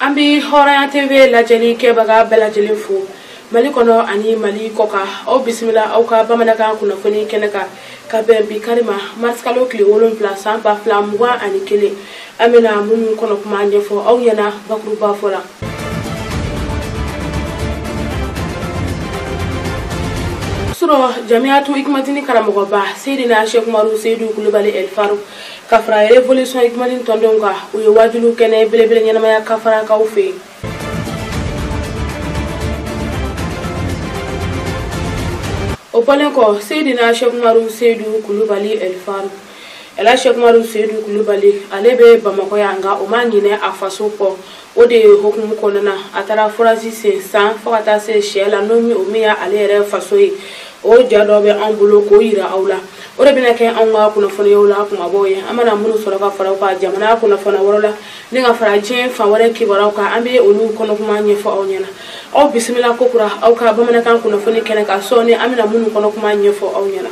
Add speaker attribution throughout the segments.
Speaker 1: an bɛ hɔrɔnya tv lajɛli kɛbaga bɛɛ lajɛlen fo mali kɔnɔ ani mali kɔkan aw bisimila aw ka bamanankan kunnafoni kɛnɛ kan ka bɛn bi kari ma marisikalo tile wolonwula san ba fila mugan ani kelen an bɛna minnu kɔnɔ kuma ɲɛfɔ aw ɲɛna bakurubafɔ la su rɔ jamiyatu ikimatini karamɔgɔba seydina shekumaru seyidu kulubali ɛlifaru ka fara revolution ikimatini tɔndenw kan u ye wajuli kɛnɛ belebele ɲɛnamaya kafarakaw fɛ yen o bɔlen kɔ seyidina sɛkumaru seyidu kulubali ɛlifaru ɛla sɛkumaru seyidu kulubali ale bɛ bamakɔ yan nka o ma ɲinɛ a faso kɔ o de hokumu kɔnɔna a taara forazi sen san fo ka taa se siyɛla n'o min o min y'ale yɛrɛ faso ye o ja dɔ bɛ anw bolo k'o yira aw la o de bɛna kɛ anw ka kunnafoniyaw la kumabaw ye an mana minnu sɔrɔ ka fara u kan jamana kunnafoniya wɛrɛ la ni ka fara diɲɛ fan wɛrɛ kibaruyaw kan an bɛ olu kɔnɔkuma ɲɛfɔ aw ɲɛna aw bisimila ko kura aw ka bamanankan kunnafoni kɛnɛ kan sɔɔni an bɛna minnu kɔnɔkuma ɲɛfɔ aw ɲɛna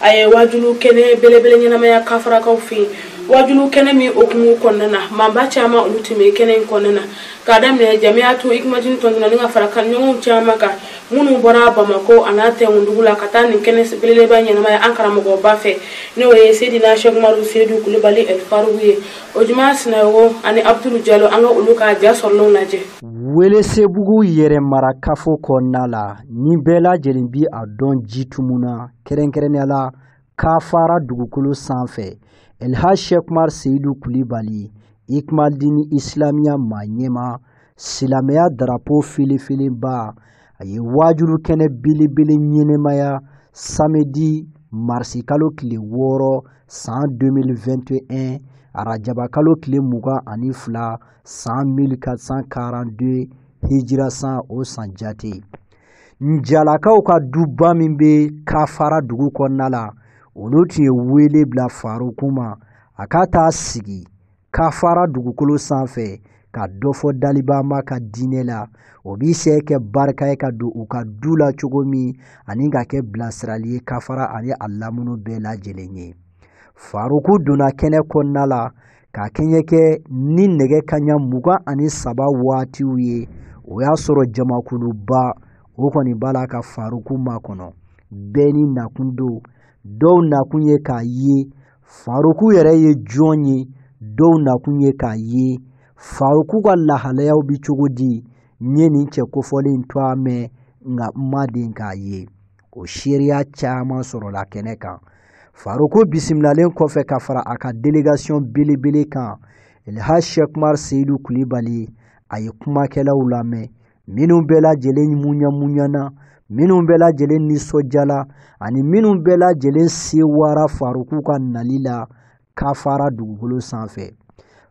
Speaker 1: a ye wajulu kɛnɛ belebele ɲɛnamaya kafarakaw fɛ yen wajulu kɛnɛ min hokumu kɔnɔna na maaba caman olu tun bɛ kɛnɛ in kɔnɔna na k'a daminɛ jamiyatu ikimatini tɔndenw na ni ka fara kanɲɔgɔnw caman kan minnu bɔra bamakɔ an'a tɛnkundugu la ka taa nin kɛnɛ belebeleba ɲɛnamaya an karamɔgɔba fɛ n'o ye sedina sɛkumaru sedu kulubali ɛlifaruku ye ojuma sinayogo ani abudulu jalo an ka olu ka ja sɔrɔlenw lajɛ welesebugu
Speaker 2: yɛrɛmarakafo kɔnɔna la ni bɛɛ lajɛlen bi a dɔn jitumu na kɛrɛnkɛrɛnnenya la kafara dugukolo sanfɛ elha shekmar seyidu kulibali ikmaldini isilamiya maa ɲɛmaa silamɛya darapo filifilibaa a ye waajuli kɛnɛ belebele ɲɛnamaya samedi marisikalo tile wɔɔrɔ san 2021 arajaba kalo tile mugan ani fila san 1442 hijira san o san jate njalakaw ka duba min bɛ kafara dugu kɔnɔna la olu tun ye wele bila faruku ma a ka taa sigi kafara dugukolo sanfɛ ka dɔ fɔ dalibaa maa ka diinɛ la o bi se kɛ barika ye ka don u ka du la cogo min ani ka kɛ bilasirali ye kafara ani a lamunu bɛɛ lajɛlen ye faruku donna kɛnɛ kɔnɔna la k'a kɛɲɛ kɛ ni nɛgɛ kaɲa mugan ani saba waatiw ye o y'a sɔrɔ jamakuluba o kɔni b'a la ka faruku makɔnɔ bɛɛ n'i nakun don dɔw nakun ye k'a ye faruku yɛrɛ ye jɔn ye dɔw nakun ye k'a ye faruku ka lahalayaw bɛ cogo di n ye nin cɛ kofɔlen in tɔɔ mɛn nka n ma deli k'a ye o seereya caman sɔrɔla kɛnɛ kan faruku bisimilalen kɔfɛ ka fara a ka delegation belebele kan elha shekmar seyidu kulibali a ye kumakɛlaw lamɛn minnu bɛɛ lajɛlen muɲamuɲana minnu bɛɛ lajɛlen nisɔndiyala ani minnu bɛɛ lajɛlen sewara faruku ka nali la kafara dugukolo sanfɛ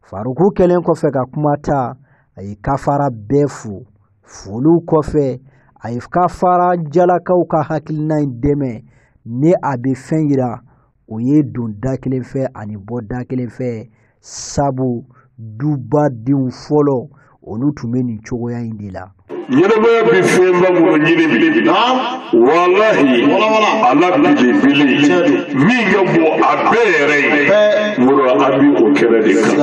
Speaker 2: faruku kɛlen kɔfɛ ka kuma ta a ye kafara bɛɛ fo foliw kɔfɛ a ye kafara jalakaw ka hakilina in dɛmɛ ni a bɛ fɛn yira o ye don da kelen fɛ ani bɔ da kelen fɛ sabu dubadenw fɔlɔ olu tun bɛ nin cogoya in de la ɲɛnɛmaya
Speaker 3: bɛ fɛnba minnu ɲini bi walahi a la belebele min ka bon a bɛɛ yɛrɛ ye muru an bɛ o kɛnɛ de kan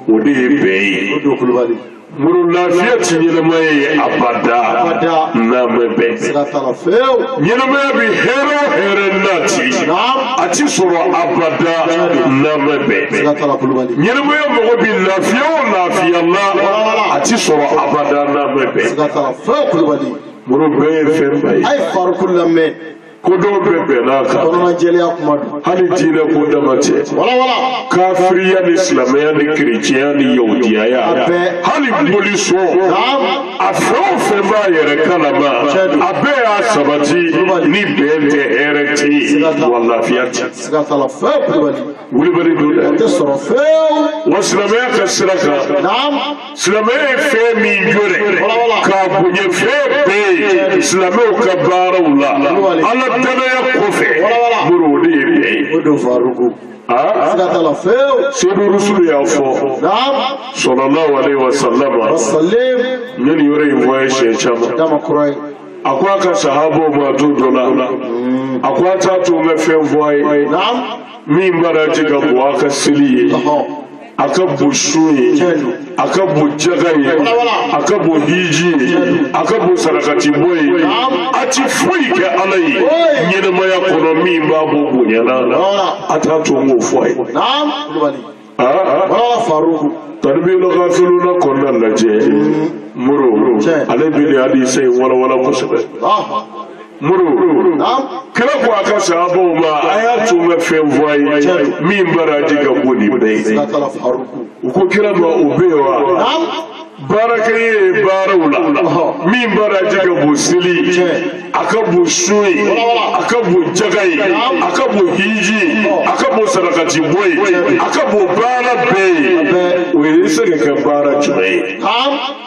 Speaker 3: o de ye bɛn ye Muru lafiya tɛ ɲɛnamaya ye abada n'an ma bɛn ɲɛnamaya bɛ hɛrɛ o hɛrɛ nati a ti sɔrɔ abada n'an ma bɛn ɲɛnamaya mɔgɔ bɛ lafiya o lafiya la a ti sɔrɔ abada n'an ma bɛn muru bɛn ye fɛn ba ye. ko dɔw bɛ bɛn n'a kan kɔnɔnajɛlenya kuma don hali diinɛ ko dama tɛ walawala kafiriya ni silamɛya ni kerecɛnya ni yahudiyaya bɛɛ. hali bolisɔn naam a fɛn o fɛn b'a yɛrɛ kalama a bɛɛ y'a sabati ni bɛn tɛ hɛrɛ tɛ yen wa lafiya tɛ siga t'a la fewu kulubali wulibali don dɛ tɛ sɔrɔ fɛn wa silamɛya ka sira kan naam silamɛ ye fɛn min jo dɛ k'a bonya fɛn bɛɛ ye silamɛw ka baaraw la ala danaya kɔfɛ muru o de ye bɛn ye. o don faruku. aa siga t'a la fewu. seyidu rusulu y'a fɔ. naam. salalahu aleyi wa salama. wa salim. n ye nin yɔrɔ in fɔ a ye siɲɛ caman. dama kura ye. a ko a ka sahabaw ma don dɔ la. Mm. a ko a t'a to n ka fɛn fɔ a ye. naam. min baraji ka bon a ka seli ye. a ka bon sun ye a ka bon jaga ye a ka bon hiji ye a ka bon sarakati bɔ ye a ti foyi kɛ ala ye ɲɛnɛmaya kɔnɔ min b'a bɔ bonya na a t'a to n k'o fɔ a ye taribiyula gafiluna kɔnɔna lajɛ muru ale bi nin hadisa in walawala kosɛbɛ muru kira ko a ka sahabaw ma a y'a to n ka fɛn fɔ a ye min baraji ka bon ni bɛɛ ye u ko kira ma o bɛ yen wa baarakɛ ye baaraw la min baraji ka bon seli a ka bon sun ye a ka bon jaga ye a ka bon hiji ye a ka bon sarakati bɔ ye a ka bon baara bɛɛ ye o bɛ se ka kɛ baara jumɛn ye.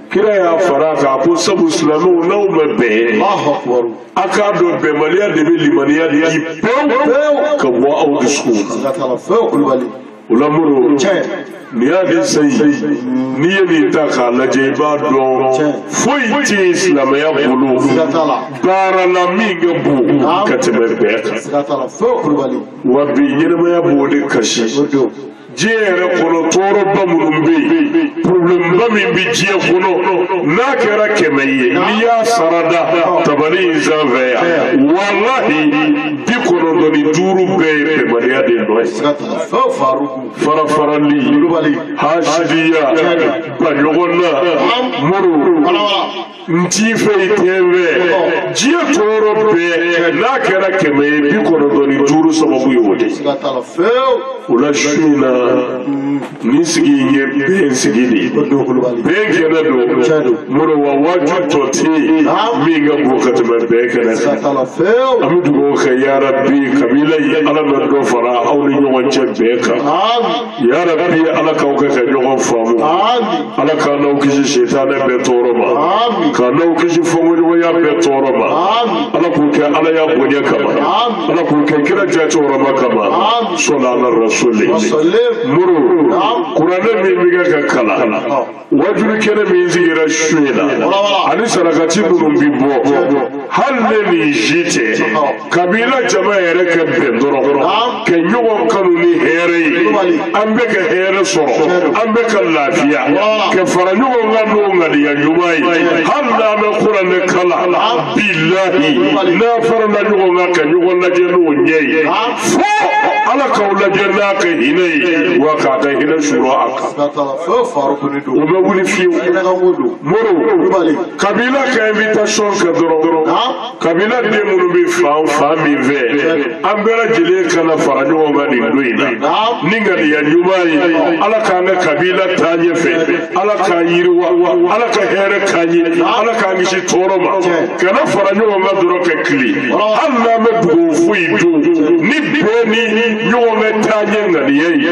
Speaker 3: kira y'a fara kan ko sabu silamɛw n'aw ma bɛn a k'a dɔn bɛnbaliya de bɛ limaniya di pewu ka bɔ aw dusukun na o la muru nin y'a di sayi n'i ye nin ta k'a lajɛ i b'a dɔn foyi tɛ yen silamɛya bolo baara la min ka bon ka tɛmɛ bɛn kan wa bi ɲɛnɛmaya b'o de kasi. diɲɛ yɛrɛ kɔnɔ tɔɔrɔba minnu bɛ yen porobilɛmba min bɛ diɲɛ kɔnɔ n'a kɛra kɛmɛ ye n'i y'a sara da tabali in sanfɛ yan walahi bi kɔnɔntɔn ni duuru bɛɛ ye bɛnbaliya de nɔ ye farafarali hasidiya baɲɔgɔnna muru n t'i fɛ i tɛ n fɛ diɲɛ tɔɔrɔ bɛɛ n'a kɛra kɛmɛ ye bi kɔnɔntɔn ni duuru sababu ye o de ye o la su in na nin sigi in ye bɛn sigi de ye bɛn kɛnɛ don moro wa waaju tɔ tɛ yen min ka bon ka tɛmɛ bɛn kɛnɛ kan an bɛ dugawu kɛ yarabi kabila ye ala na dɔ fara aw ni ɲɔgɔn cɛ bɛn kan. yarabi ala k'aw kɛ ka ɲɔgɔn faamu ala k'an n'aw kisi sitanɛ bɛɛ tɔɔrɔ ma k'an n'aw kisi fɔɲɔgɔnkɔya bɛɛ tɔɔrɔ ma ala k'u kɛ alaya bonya kama ala k'u kɛ kira cɛkɔrɔba kama salu ala rasuli muru kuranɛ min bɛ kɛ ka kalan wajulu kɛnɛ min sigira su in na ani sarakati minnu bi bɔ a laɲini si tɛ kabila jama yɛrɛ ka bɛn dɔrɔn ka ɲɔgɔn kanu ni hɛrɛ ye an bɛɛ ka hɛrɛ sɔrɔ an bɛɛ ka lafiya ka fara ɲɔgɔn kan n'o ŋaniya ɲuman ye hali n'an ma kuranɛ kalan bilahi n'an farala ɲɔgɔn kan ka ɲɔgɔn lajɛ n'o ɲɛ ye fo ala k'aw lajɛ n'a ka hinɛ ye wa k'a ka hinɛ suuru a kan. o faro kɔni don o bɛ wuli fiyewu ɲɛnɛkanko don moro kulubali kabila ka invitation kɛ dɔrɔn kabila den minnu bɛ fan fan min fɛ an bɛɛ lajɛlen ka na fara ɲɔgɔn kan nin don in na ni ŋaniya ɲuman ye ala k'an ka kabila taa ɲɛfɛ ala k'an yiriwa ala ka hɛrɛ k'an ye ala k'an kisi tɔɔrɔ ma ka na fara ɲɔgɔn kan dɔrɔn ka tile hali n'an ma dugawu foyi don ni bɛɛ ni ɲɔgɔn bɛ taa ɲɛ ŋaniya ye.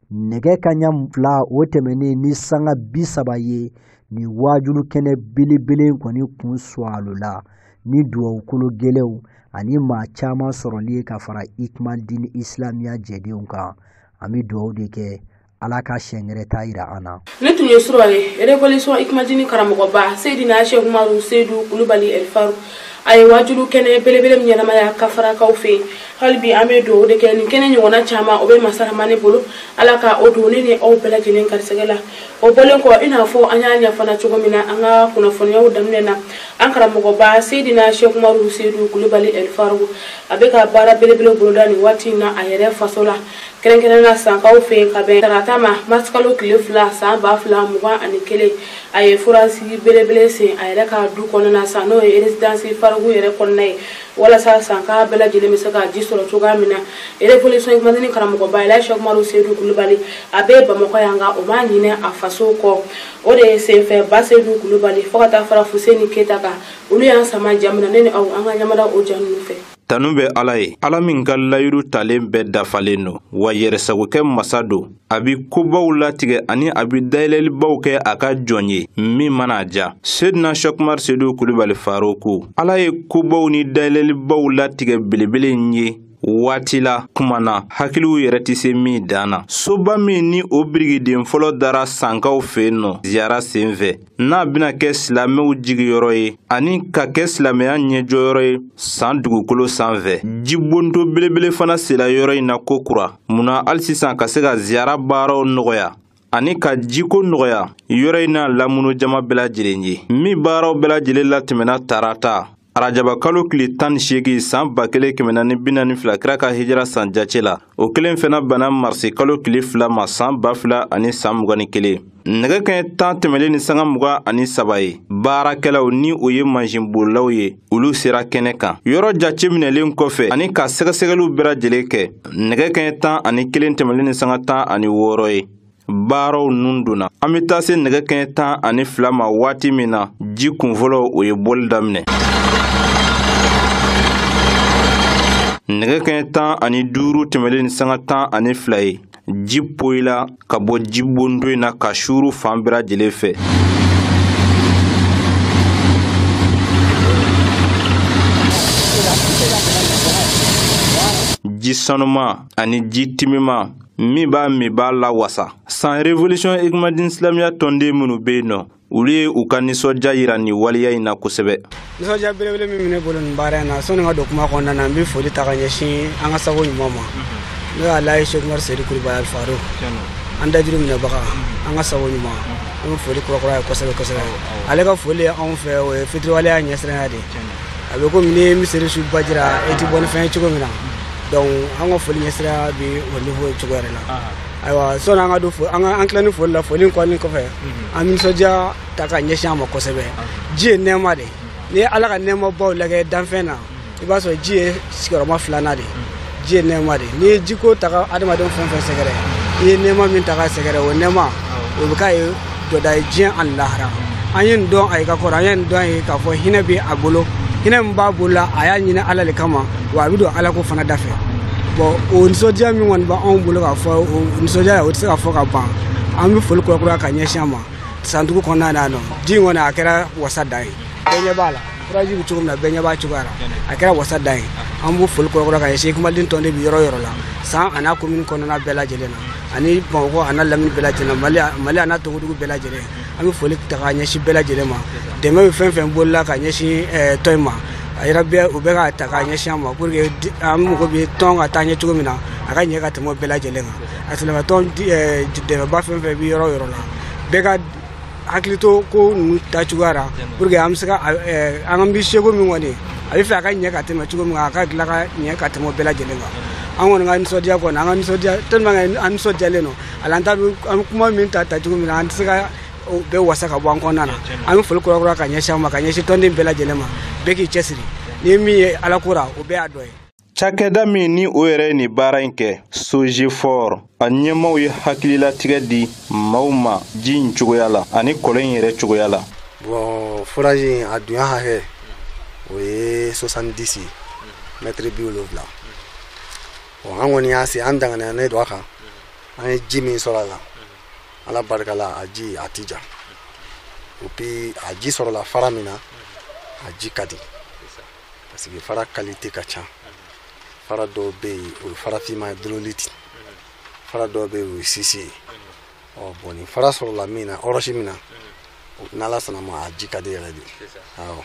Speaker 2: nɛgɛ kanɲɛ fila o tɛmɛnen ni sanga bi saba ye nin waajulu kɛnɛ belebele kɔni kun suwalo la ni dugawukolo gɛlɛnw ani maa caman sɔrɔli ye ka fara ikmal dini isilamiya jɛdenw kan an bɛ dugawu de kɛ ala ka sɛngɛrɛ ta yira an na ne tun ye sura
Speaker 1: ye révolution ikmadini karamɔgɔba seydina sheikh umaru seydu kulubali elfaruk a ye waajuli kɛnɛ belebele min ɲɛnamaya kafarakaw fɛ yen hali bi an bɛ dugawu de kɛ nin kɛnɛ ɲɔgɔnna caman o bɛ masa ramani bolo ala ka o don ne ni aw bɛɛ lajɛlen garisɛgɛ la o bɔlen kɔ i n'a fɔ an y'a ɲɛfana cogo min na an ka kunnafoniyaw daminɛ na an karamɔgɔba seydina sheikh umaru seydu kulubali elfaruk a bɛ ka baara belebele boloda nin waati in na a yɛrɛ faso la kɛrɛnkɛrɛnnenya sankaw fɛ yen ka bɛn tarata ma marisikalo tile fila san ba fila mugan ani kelen a ye forazi belebele sen a yɛrɛ ka du kɔnɔna san n'o ye eresidansi faruku yɛrɛ kɔnɔna ye walasa sanka bɛɛ lajɛlen bɛ se ka ji sɔrɔ cogoya min na erewolisɔn ikimadini karamɔgɔba elaji sɛki umaru seyidu kulubali a bɛ bamakɔ yan nka o ma ɲinɛ a faso kɔ o de ye senfɛ ba seyidu kulubali fo ka taa fara fuseni keyita kan olu y'an sama ja min na ne ni aw an ka ɲɛ mada o ja ninnu fɛ Tanu bɛ Ala
Speaker 4: ye, Ala min ka layiru talen bɛɛ dafalen don, wa yɛrɛsagokɛ masa don. A bi kobaw latigɛ ani a bi dayɛlɛlibaw kɛ a ka jɔn ye, min mana a diya. Sedina Cheikh Umaru Sedu Kulibali Faruku, Ala ye kobaw ni dayɛlɛlibaw latigɛ belebele in ye waati la kuma na hakiliw yɛrɛ tɛ se min dan na soba min ni o birikiden fɔlɔ dara sankaw fɛ yen nɔ ziyara senfɛ n'a bɛna kɛ silamɛw jigiyɔrɔ ye ani ka kɛ silamɛya ɲɛjɔyɔrɔ ye san dugukolo sanfɛ jibondon belebele fana sela yɔrɔ in na ko kura mun na hali sisan ka se ka ziyara baaraw nɔgɔya ani ka jiko nɔgɔya yɔrɔ in n'a lamunu jama bɛɛ lajɛlen ye min baaraw bɛɛ lajɛlen latɛmɛna tarata arajabakalo tile tan ni seegin saan ba kelen kɛmɛ naani bi naani fila kira ka hijira san jace la o kelen fana bɛnna marisikalo tile fila ma saan ba fila ani saan mugan ni kelen nɛgɛ kɛɲɛ tan tɛmɛlen ni sanga mugan ani saba ye baarakɛlaw ni o ye mansinbolilaw ye olu sera kɛnɛ kan yɔrɔ jace minɛlen kɔfɛ ani ka sɛgɛsɛgɛliw bɛɛ lajɛlen kɛ nɛgɛ kɛɲɛ tan ani kelen tɛmɛlen ni sanga tan ani wɔɔrɔ ye baaraw nun donna an bɛ taa se nɛgɛ kɛɲɛ tan ani fila ma waati min na ji kunfɔlɔ o ye bɔli daminɛ nɛgɛ kɛɲɛ tan ani duuru tɛmɛlen ni sanga tan ani fila ye ji poyila ka bɔ jibondon in na ka suuru fan bɛɛ lajɛlen fɛ ji sanuman ani ji timiman min b'a min b'a lawasa san revolution ikmadini silamɛya tɔnden minnu bɛ yen nɔ olu ye u ka nisɔndiya yira nin waleya in na kosɛbɛ nisɔndiya belebele
Speaker 5: min bɛ ne bolo nin baara in na sanni ka don kuma kɔnɔna na n bɛ foli ta ka ɲɛsin an ka sabu ɲuman ma n'o ye alaji seku umaru seyidu kulubali alifaruku an dajuru minɛbaga an ka sabu ɲuman an bɛ foli kura kura ye kosɛbɛ kosɛbɛ ale ka foli ye anw fɛ o ye fitiriwaleya ɲɛsiranya de ye a bɛ komi n'i miseli su baji ra e ti bɔ ni fɛn ye cogo min na donc an ka foli ɲɛsira bɛ o niveau ye cogo yɛrɛ la ayiwa sɔni an ka don fo an ka an tilani foli la foli in kɔni kɔfɛ mhm. an bɛ nisɔndiya ta ka ɲɛsin a ma kosɛbɛ ji ye nɛɛma de n'i ye ala ka nɛɛmabaw lajɛ danfɛn na i b'a sɔrɔ ji ye sigiyɔrɔma filanan de ji ye nɛɛma de n'i ye jiko ta ka adamaden fɛn fɛn sɛgɛrɛ i ye nɛɛma min ta ka sɛgɛrɛ o nɛɛma o bɛ k'a ye dɔda ye diɲɛ ani lahara an ye nin dɔn a ye ka kɔrɔ an ye nin dɔn a ye k'a fɔ hinɛ bɛ a bolo hinɛ min b'a bolo la a y'a ɲini ala de kama wa a b'a don ala ko fana da fɛ bon o nisɔndiya min kɔni b'anw bolo k'a fɔ o nisɔndiya la o tɛ se ka fɔ ka ban an bɛ foli kurakuraya ka ɲɛsin a ma san dugu kɔnɔna na yan nɔ ji in kɔni a kɛra wasa dan ye bɛɛ ɲɛ b'a la forage bɛ cogo min na bɛɛ ɲɛ b'a cogoya la a kɛra wasa dan ye an bɛ foli kura kura ka ɲɛsin ikimadin tɔnden bi yɔrɔ yɔrɔ la san a n'a komini kɔnɔna bɛɛ lajɛlen na ani bamakɔ a n'a lamini bɛɛ lajɛlen mali mali a n'a togodugu bɛɛ lajɛlen an bɛ foli ta ka ɲɛsin bɛɛ lajɛlen ma dɛmɛba fɛn fɛn bolila ka ɲɛsin eh, tɔn in ma a yɛrɛ bɛɛ u bɛ ka ta ka ɲɛsin an ma pour que di- an mago bɛ tɔn ka taa ɲɛ cogo min na a ka ɲɛ ka tɛmɛ o bɛɛ lajɛlen kan a silamɛtɔn di- eh, dɛmɛba fɛn fɛn bɛ yɔrɔ o yɔrɔ la bɛɛ ka hakili to ko ninnu ta cogoya la pour que an bɛ se ka eh, an ka bi seko min kɔni a bɛ fɛ a ka ɲɛ ka tɛmɛ cogo min a ka tila ka ɲɛ ka tɛmɛ bɛɛ lajɛlen kan an kɔni ka nisɔndiya kɔni an ka nisɔndiya tellement que an nisɔndiyalen don a la an t'a dɔn an bɛ kuma min ta ta cogo min na an tɛ se ka o bɛɛ wasa ka bɔ an kɔnɔna na an bɛ foli kura kura ka ɲɛsin an ma ka ɲɛsin tɔnden bɛɛ lajɛlen ma bɛɛ k'i cɛsiri ni min ye ala ko la o bɛɛ y'a dɔ ye Cakɛda min
Speaker 4: ni o yɛrɛ nin baara in kɛ sogefor a ɲɛmaaw ye hakililatigɛ di maaw ma ji in cogoya la ani kɔlɔn in yɛrɛ cogoya la bon forage
Speaker 6: a dunya hakɛ o ye soixante-dix mɛtiri bi wolowula bon an kɔni y'a se an danganiyanen don a kan an ye ji min sɔrɔ a la ala barika la a ji a ti ja et puis a ji sɔrɔla fara min na a ji ka di parce que fara qualité ka ca fara dɔw bɛ yen o ye farafinma ye dololiti fara dɔw bɛ yen o ye sisi ye ɔ bon nin fara sɔrɔla min na ɔrɔsi min na n'ala sɔnn'a ma a ji ka di yɛrɛ de awɔ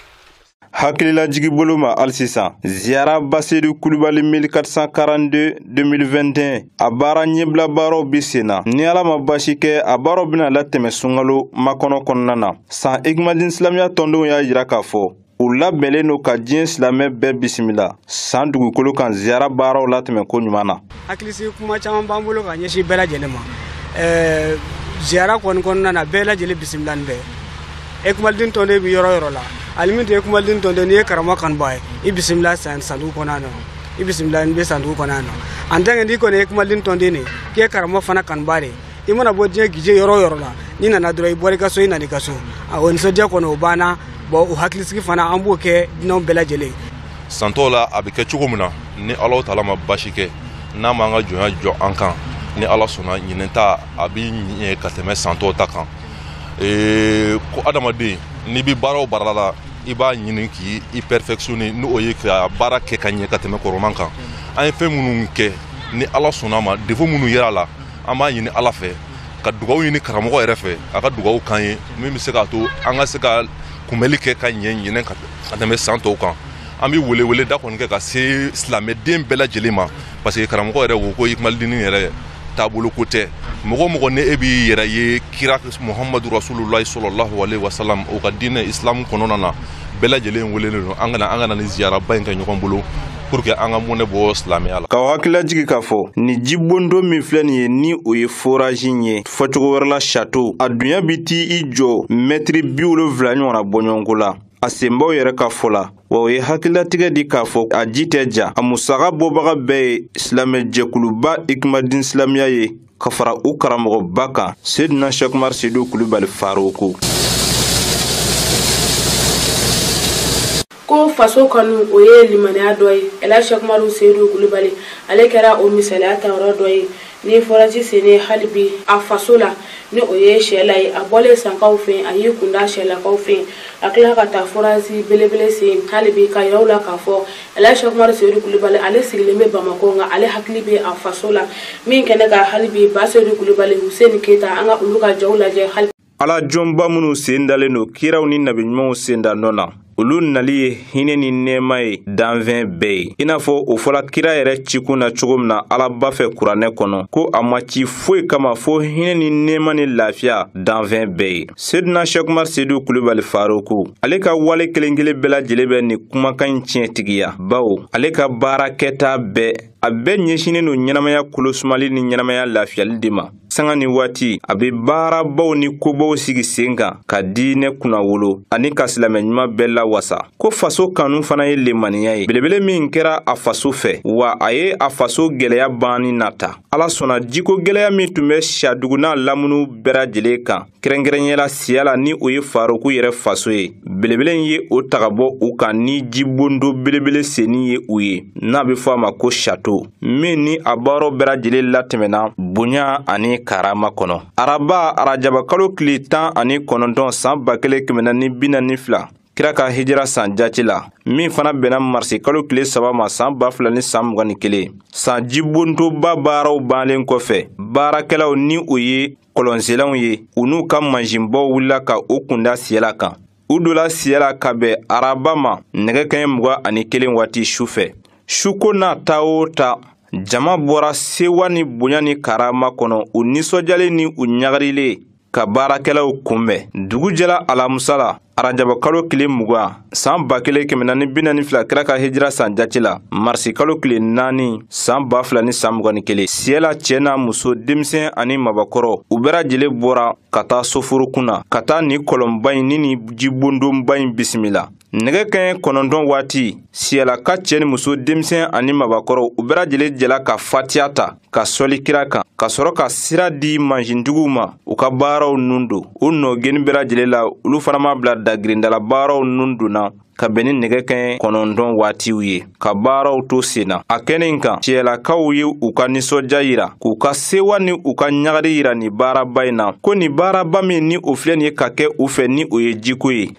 Speaker 4: hakililajigi bolo ma hali sisan ziyara basedu kulubali 1442 2021 a baara ɲɛbila baaraw bi sen na ni ala ma basi kɛ a baaraw bɛna latɛmɛ sunkalo makɔnɔ kɔnɔna na san ikimadin silamɛya tɔndenw y'a jira k'a fɔ u labɛnnen don ka diɲɛ silamɛ bɛɛ bisimila san dugukolo kan ziyara baaraw latɛmɛ ko ɲuman na hakilisigi kuma caman
Speaker 5: b'an bolo ka ɲɛsin bɛɛ lajɛlen ma ɛɛ ziyara kɔni kɔnɔna na bɛɛ lajɛlen bisimilani bɛ ikimadin tɔnden bɛ yɔrɔ yɔrɔ la hali n'i tɛ ikimadin tɔnden n'i ye karamɔgɔ kanubaa ye i bisimila san san dugu kɔnɔna na i bisimilani bɛ san dugu kɔnɔna na en tant que n'i kɔni ye ikimadin tɔnden de ye k'i ye karamɔgɔ fana kanubaa de ye i mana bɔ diɲɛ gije yɔrɔ o yɔrɔ la n'i nana dɔrɔn i bɔra i ka so i nana i ka so o nisɔndiya kɔni o banna bon o hakilisigi fana an b'o kɛ dunanw bɛɛ lajɛlen san tɔw la
Speaker 7: a bɛ kɛ cogo min na ni alahu taala ma basi kɛ n'a m'an ka jɔnya jɔ an kan ni ala sɔnna ɲinɛ ta a bɛ ɲɛ ka tɛmɛ san tɔw ta kan ee, ko adamaden n'i bɛ baara o baara la i b'a ɲini k'i i perfectionner n'o ye ka baara kɛ ka ɲɛ ka tɛmɛ kɔrɔman kan an ye fɛn minnu kɛ ni ala sɔnna ma défaut minnu yera a la an b'a ɲini ala fɛ ka dugawu ɲini karamɔgɔ yɛrɛ fɛ a ka dugawu k'an ye min bɛ se k'a to an ka se ka kunbɛli kɛ ka ɲɛ ɲinɛ ka tɛmɛ san tɔw kan an bɛ welewele da kɔni kɛ ka se silamɛden bɛɛ lajɛlen ma parce que karamɔgɔ yɛrɛ ko ko ikumalidini yɛrɛ taabolo ko tɛ mɔgɔ o mɔgɔ ni e b'i yɛrɛ ye kira muhamadu rasululayi sɔlɔlahu alehi wasalam o ka diinɛ isilamu kɔnɔna na bɛɛ lajɛlen welelen don an ka na an ka na nin ziyaraba in kɛ ɲɔgɔn bolo pour que an ka mɔnɛ bɔ silamɛya la. K'aw hakili lajigin k'a fɔ ni jibondo min filɛ nin ye ni o ye forazi in ye fɔcogo wɛrɛ la sato a dunya bɛ t'i jɔ mɛtiri bi wolonfila ɲɔgɔnna bɔɲɔgɔnko la a senbaw yɛrɛ ka fɔ la wa u ye hakililatigɛ di k'a fɔ a ji tɛ ja a musaka bɔbaga bɛɛ ye silamɛ jɛkuluba ikimadin silamɛya ye ka fara u karamɔgɔba kan sedina sɛki umaru sedu kulubali
Speaker 1: faruku ko faso kanu o ye limaniya dɔ ye ɛla sɛki umaru sedu kulubali ale kɛra o misaliya tayɔrɔ dɔ ye ni fɔrasi senni hali bi a faso la ni o ye siyɛla ye a bɔlen sankaw fɛ a y'i kunda siyɛlakaw fɛ a tila ka taa fɔrasi belebele sen hali bi k'a yira aw la k'a fɔ Ɛla Sɛki Umaru Seyidu Kulubali ale sigilen bɛ Bamakɔ nka ale hakili bɛ a faso la min kɛnɛ ka hali bi Ba Seyidu Kulubali Huseni Keyita an ka olu ka jaw lajɛ hali Ala jɔnba
Speaker 4: minnu sen dalen don kiraw ni nabi ɲumanw sen da nɔ na olu nali ye hinɛ ni nɛɛma ye danfɛn bɛɛ ye i n'a fɔ o fɔla kira yɛrɛ cikun na cogo min na alaba fɛ kuranɛ kɔnɔ ko a ma ci foyi kama fo hinɛ ni nɛɛma ni lafiya danfɛn bɛɛ ye Sedina Sɛki Umaru Sedu Kulubali Faroku ale ka wale kelen-kelen bɛɛ lajɛlen bɛ nin kumakan in tiɲɛtigiya bawo ale ka baara kɛta bɛɛ a bɛɛ ɲɛsinnen don ɲɛnamaya kolosumali ni ɲɛnamaya lafiyali de ma sanga ni waati a bɛ baarabaw ni kobaw sigi sen kan ka diinɛ kunnawolo ani ka silamɛ ɲuman bɛɛ lawasa ko faso kanu fana ye limaniya ye belebele min kɛra a faso fɛ wa a ye a faso gɛlɛya banni nata ala sɔnna jiko gɛlɛya min tun bɛ siyadugu n'a lamunu bɛɛ lajɛlen kan kɛrɛnkɛrɛnya la siyɛla ni o ye faroku yɛrɛ faso ye belebele ye o ta ka bɔ u kan ni jibondo belebele senni ye u ye n'a bɛ fɔ a ma ko sato min ni a baaraw bɛɛ lajɛlen latɛmɛna bonya ani karama kɔnɔ araba arajabakalo tile tan ani kɔnɔntɔn san ba kelen kɛmɛ naani ni bi naani ni fila kira ka hijira san jati la min fana bɛnna marisi kalo tile saba ma saan ba fila ni saan mugan ni kelen san jibontoba baaraw bannen kɔfɛ baarakɛlaw ni u ye kɔlɔnselanw ye u n'u ka mansinbaw wulila ka u kunda siyɛla kan u dola siyɛla ka bɛn araba ma nɛgɛ kaɲɛ mugan ani kelen waati su fɛ suko n'a ta o ta jama bɔra sewa ni bonya ni karama kɔnɔ u nisɔndiyalen ni u ɲagarilen ka baarakɛlaw kunbɛn dugu jɛla alamusa la arajaba kalo tile mugan saan ba kelen kɛmɛ naani bi naani fila kira ka hijira san jati la marisi kalo tile naani saan ba fila ni saan mugan ni kelen siyɛla cɛ n'a muso denmisɛn ani mabakɔrɔ u bɛɛ lajɛlen bɔra ka taa soforokun na ka taa nin kɔlɔnba in ni nin jibondonba in bisimila nɛgɛ kɛɲɛ kɔnɔntɔn waati siyɛlaka cɛ ni muso denmisɛn ani mabakɔrɔ u bɛɛ lajɛlen jɛla ka fatiya ta ka sɔli kira kan ka sɔrɔ ka sira di mansintigiw ma u ka baaraw nun don u nɔgeni bɛɛ lajɛlen la olu fana ma bila dagirindala baaraw nun donna ka bɛn ni nɛgɛ kɛɲɛ kɔnɔntɔn waatiw ye ka baaraw to sen na a kɛnɛ kan siyɛlakaw ye u ka nisɔndiya yira k'u ka sewa ni u ka ɲagari yira nin baaraba in na ko nin baaraba min ni o filɛ nin ye ka kɛ u fɛ ni o ye jiko ye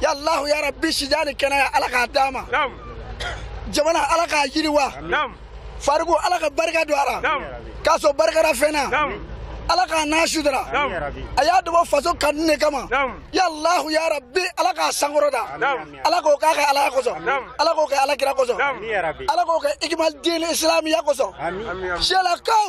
Speaker 5: ya allahu ya rabbi si jan ni kɛnɛya ala k'a d'a ma jamana ala k'a yiriwa fariku ala ka barika don a la k'a sɔrɔ barikada fɛn na ala k'a n'a sutara a y'a dabɔ faso kanu ne kama ya allahu ya rabbi ala k'a sankɔrɔta ala k'o k'a kɛ alaya kosɔn ala k'o kɛ ala kira kosɔn ala k'o kɛ ikimal din isilamiya kosɔn siyɛlakaw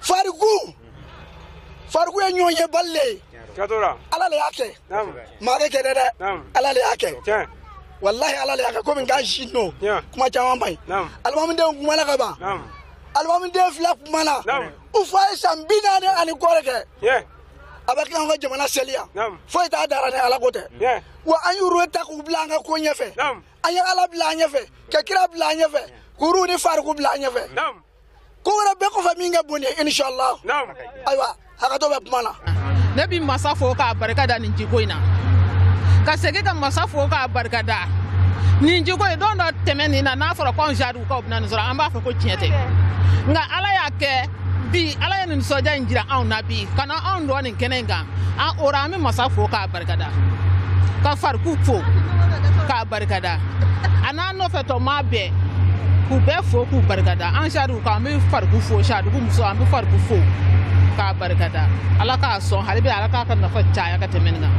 Speaker 5: fariku fariku ye ɲɔgɔnyebali le ye ala le y'a kɛ maa tɛ kɛ dɛ dɛ ala le y'a kɛ walahi ala le y'a kɛ komi k'a si nɔ kuma caman man ɲi alimamudenw kumana ka ban alimamuden fila kumana u fa ye san bi naani ani kɔ le kɛ a bɛ k'an ka jamana seliya foyi t'a da ra ni ala ko tɛ wa an y'u ta k'u bila an ka ko ɲɛfɛ an ye ala bila an ɲɛfɛ ka kira bila an ɲɛfɛ k'u ni fariku bila an ɲɛfɛ ko wɛrɛ bɛɛ kɔfɛ min ka bon ni inshallah ayiwa hakɛto bɛ kuma na ne bɛ
Speaker 8: masa fo k'a barika da nin jiko in na ka segin ka masa fo k'a barika da nin jiko in don dɔ tɛmɛnin na n'a fɔra ko anw jadiw kaw bɛna nin sɔrɔ an b'a fɔ ko tiɲɛ tɛ nka ala y'a kɛ bi ala ye nin nisɔndiya in jira anw na bi ka na anw dɔn nin kɛnɛ in kan an o ra an bɛ masa fo k'a barika da ka fariku fo k'a barika da a n'a nɔfɛ tɔ maa bɛɛ k'u bɛɛ fo k'u barika da an jariw kan an bɛ fariku fo jariw muso an bɛ fariku fo k'a barika da ala k'a sɔn hali bi ala k'a ka nafa caya ka tɛmɛ nin kan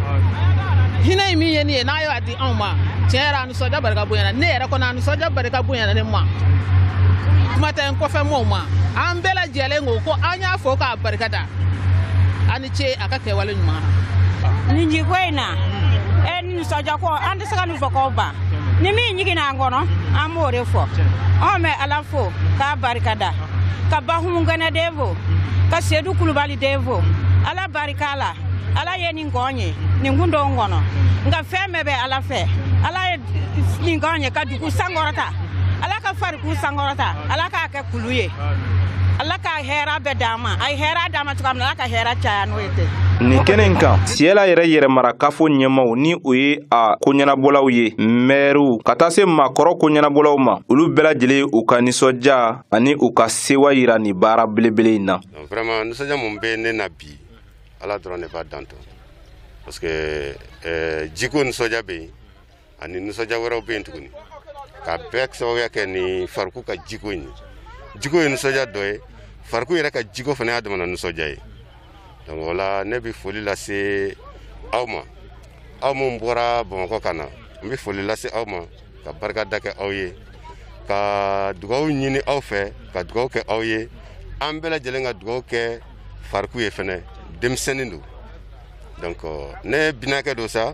Speaker 8: hinɛ in min ye nin ye n'a y'a di anw ma tiɲɛ yɛrɛ a nisɔndiya barika bonyana ne yɛrɛ kɔnɔ a nisɔndiya barika bonyana ne ma kuma tɛ n kɔfɛ mɔɔw ma an bɛɛ lajɛlen ko ko an y'a fo k'a barika da ce a ka kɛwale ɲuman na nin jiko in
Speaker 9: na e ni nisɔndiyako an tɛ se ka nin fɔ k'o ban ni min ɲiginna an kɔnɔ an b'o de fɔ an bɛ ala fo k'a barika da ka bahumu gɛnɛ den fo ka sedu kulubali den fo ala barika la ala ye nin k'anw ye nin kun t'anw kɔnɔ nka fɛn bɛɛ bɛ ala fɛ ala ye nin k'anw ye ka dugu sankɔrɔta ala ka fariku sankɔrɔta ala k'a kɛ kulu ye ala ka hɛra bɛɛ d'a ma a ye hɛra d'an ma cogoya min na ala ka hɛra caya n'o ye ten nin kɛnɛ in
Speaker 4: kan siyɛla yɛrɛ yɛrɛmarakafo ɲɛmaw ni o ye a koɲɛnabɔlaw ye mɛriw ka taa se maakɔrɔ koɲɛnabɔlaw ma olu bɛɛ lajɛlen u ka nisɔndiya ani u ka sewa yira nin baara belebele in na vraiment nisɔndiya
Speaker 10: mun bɛ ne na bi ala dɔrɔn de b'a dan dɔn parce que eh, jiko nisɔndiya bɛ yen ani nisɔndiya wɛrɛw bɛ yen tuguni k'a bɛɛ sababuya kɛ nin fariku ka jiko in ye jiko ye nisɔndiya dɔ ye fariku yɛrɛ ka jiko fana y'a damana nisɔndiya ye donc o la ne bɛ foli lase aw ma aw minnu bɔra bamakɔ ka na n bɛ foli lase aw ma ka barika da kɛ aw ye ka dugawu ɲini aw fɛ ka dugawu kɛ aw ye an bɛɛ lajɛlen ka dugawu kɛ fariku ye fɛnɛ denmisɛnnin don donc ne binakɛ don sa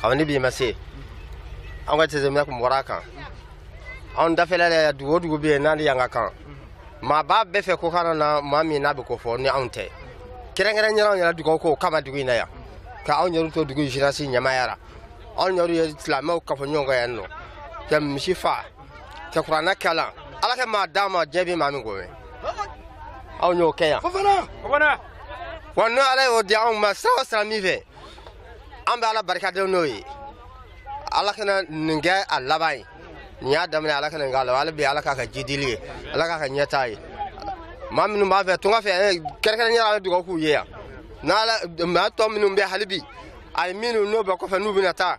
Speaker 11: kabini bi ma se anw ka jateminɛ tun bɔra a kan anw dafɛla la dugu o dugu bɛ yen n'ale y'an ka kan maa b'a bɛɛ fɛ ko kana na maa min n'a bɛ ko fɔ ni anw tɛ kɛrɛnkɛrɛnya la anw yɛrɛ dugawu k'o kama dugu in na yan ka anw yɛrɛ to dugu jeunesse ɲɛmaaya la anw yɛrɛ ye silamɛw kafo ɲɔgɔn kan yan nɔ ka misi fa ka kuranɛ kalan ala ka maa d'an ma diɲɛ bɛ maa min ko ye anw y'o kɛ yan wa n'o ala y'o di anw ma sira o sira min fɛ an bɛ ala barika da n'o ye ala kana nin kɛ a laban ye nin y'a daminɛ ala kana nin k'a la hali bi ala k'a ka jidili ye ala k'a ka ɲɛtaa ye maa minnu b'a fɛ tunga fɛ eh, kɛrɛnkɛrɛnya la dugawu k'u ye yan n'ala maa tɔ minnu bɛ hali bi a ye minnu n'o bɛ kɔfɛ n'u bɛna taa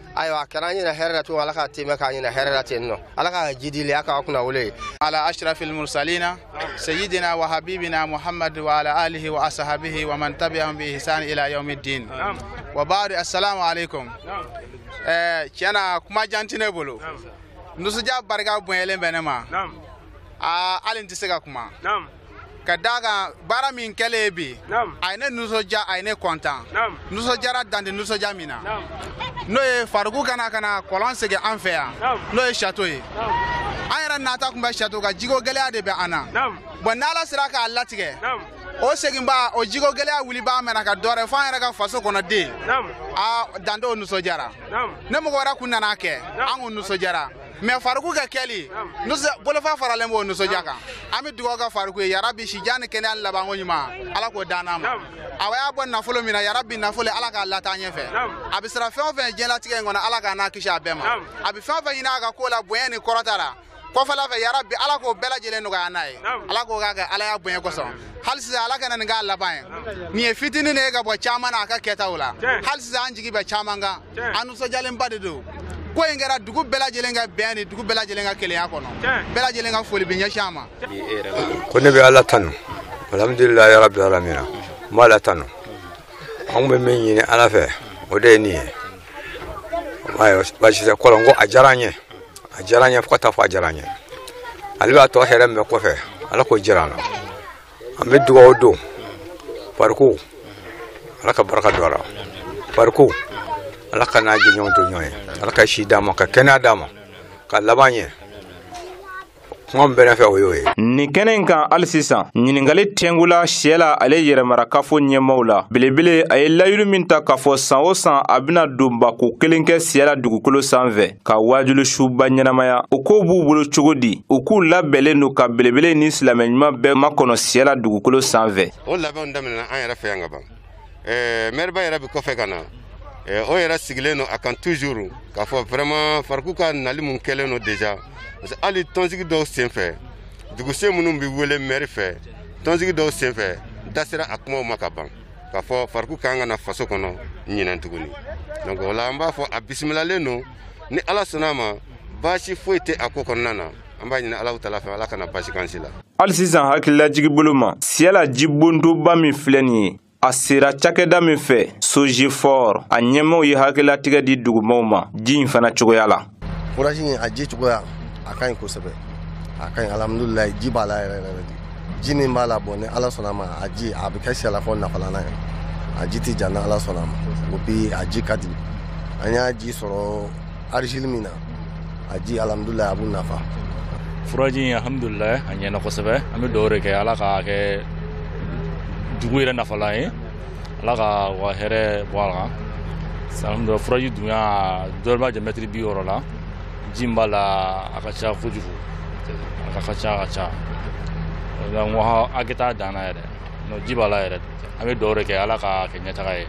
Speaker 11: ayiwa a kɛra an ɲɛna hɛrɛ la tun ala ka tɛmɛ k'an ɲɛna hɛrɛ la ten nɔ ala ka jidili a k'a kunnawolo ala ashrafil
Speaker 12: mursalina sayyidina wa habibina muhammad wa ala alihi wa ashabihi wa man tabi'ahum bi ihsan ila yawmiddin wa ba'du assalamu alaikum eh tiɲɛ na kuma jan tɛ ne bolo nisɔndiya barika bonyalen bɛ ne ma aa hali n tɛ se ka kuma ka d'a kan baara min kɛlen ye bi a ye ne nisɔndiya a ye ne kɔntan nisɔndiyara dan tɛ nisɔndiya min na n'o ye fariku ka na ka na kɔlɔn segin an fɛ yan n'o ye sato ye an yɛrɛ nata tun bɛ sato kan jiko gɛlɛya de bɛ an na bon n'ala sera k'a latigɛ o seginbaa o jiko gɛlɛya wulibaa ma na kɛ dɔwɛrɛ fo an yɛrɛ ka faso kɔnɔ den a dan tɛ o nisɔndiya la ni mɔgɔ wɛrɛ kun nana a kɛ an kun nisɔndiyara mais fariku ka kɛli bolofa faralen b'o nisɔndiya kan an bɛ dugawu kɛ fariku ye yarabi sijan ni kɛnɛya labanko ɲuman ala k'o d'an ma a y'a bɔ nafolo min na yarabi nafolo ala k'a lataa ɲɛfɛ a bɛ siran fɛn o fɛn diɲɛlatigɛ in kɔnɔ ala k'a n'a kisi a bɛɛ ma a bɛ fɛn o fɛn ɲini a ka ko la bonya ni kɔrɔta la kɔfɛla fɛ yarabi ala k'o bɛɛ lajɛlen nɔgɔya n'a ye ala k'o k'a kɛ ala y'a bonya kosɔn hali sisan ala kana nin k'a laban ye nin ye fitinin de ye ka bɔ caman na a ka kɛtaw la hali sisan an jigi bɛ caman kan an nisɔndiyalenba de don ko in kɛra dugu bɛɛ lajɛlen ka bɛn ni dugu bɛɛ lajɛlen ka kelenya kɔnɔ bɛɛ lajɛlen ka foli bɛ ɲɛsin a ma ko ne
Speaker 13: bɛ ala tanu alhamdulilayi yarabi alamina n b'ala tanu an bɛ min ɲini ala fɛ o de ye nin ye baasi tɛ kɔlɔn ko a diyara an ye a diyara an ye fo ka taa fɔ a diyara an ye ale b'a tɔ hɛrɛ min bɛ kɔfɛ ala k'o jira an na an bɛ dugawu don fariku ala ka barika don a la fariku ala k'a n'a jɛɲɔgɔnw to ɲɔgɔn ye ala ka si d'a ma ka kɛnɛya d'a ma k'a laban ɲɛ kuma min bɛ ne fɛ o y'o ye nin kɛnɛ in kan
Speaker 4: hali sisan ɲininkali tɛngula siyala ale yɛrɛmarakafo ɲɛmaw la belebele a ye layidu min ta k'a fɔ san o san a bɛna donbako kelen kɛ siyala dugukolo sanfɛ ka waajuli suba ɲɛnamaya o ko b'u bolo cogo di u k'u labɛnnen don ka belebele ni silamɛ ɲuman bɛɛ makɔnɔ siyɛla dugukolo sanfɛ o labɛnw daminɛna
Speaker 10: an yɛrɛ fɛ yan ka ban eh, mɛriba yɛrɛ bɛ kɔfɛ ka na eh, o yɛrɛ sigilen don a kan toujours k'a fɔ vraiment fariku ka nali mun kɛlen don déjà parce que hali tɔnsigi dɔw senfɛ duguse minnu bɛ wele mɛri fɛ tɔnsigi dɔw senfɛ da sera a kumaw ma ka ban k'a fɔ fariku kan ka na faso kɔnɔ ɲinɛn tuguni donc o la an b'a fɔ a bisimilalen don ni ala sɔnna a ma baasi foyi tɛ a ko kɔnɔna na an b'a ɲini alahu taala fɛ ala kana baasi k'an si la hali sisan
Speaker 4: hakililajigi bolo ma siyala jibondoba min filɛ nin ye a sera cakɛda min fɛ sogefor a ɲɛmaw ye hakililatigɛ di dugumaw ma ji in fana cogoya la furaji in a
Speaker 6: ji cogoya a ka ɲi kosɛbɛ a ka ɲi alhamdulilayi ji b'a la yɛrɛ yɛrɛ de ji min b'a la bon ni ala sɔnna ma a ji a bɛ kɛ siyalafɔ nafalan ye a ji tɛ ja ni ala sɔnna ma o bi a ji ka di an y'a ji sɔrɔ argile min na a ji alhamdulilayi a b'u nafa furaji in
Speaker 14: alhamdulilayi a ɲɛna kosɛbɛ an bɛ dugawu de kɛ ala k'a kɛ dugu yɛrɛ nafalan ye ala ka wa hɛrɛ bɔ a kan sanfɛ furaji dunya dɔrɔmɛ jɛ mɛtiri bi wɔɔrɔ la ji b'a la a ka ca kojugu a ka ca a ka ca n ko hakɛ t'a dan na yɛrɛ ji b'a la yɛrɛ an bɛ dugawu de kɛ ala k'a kɛ ɲɛtaga ye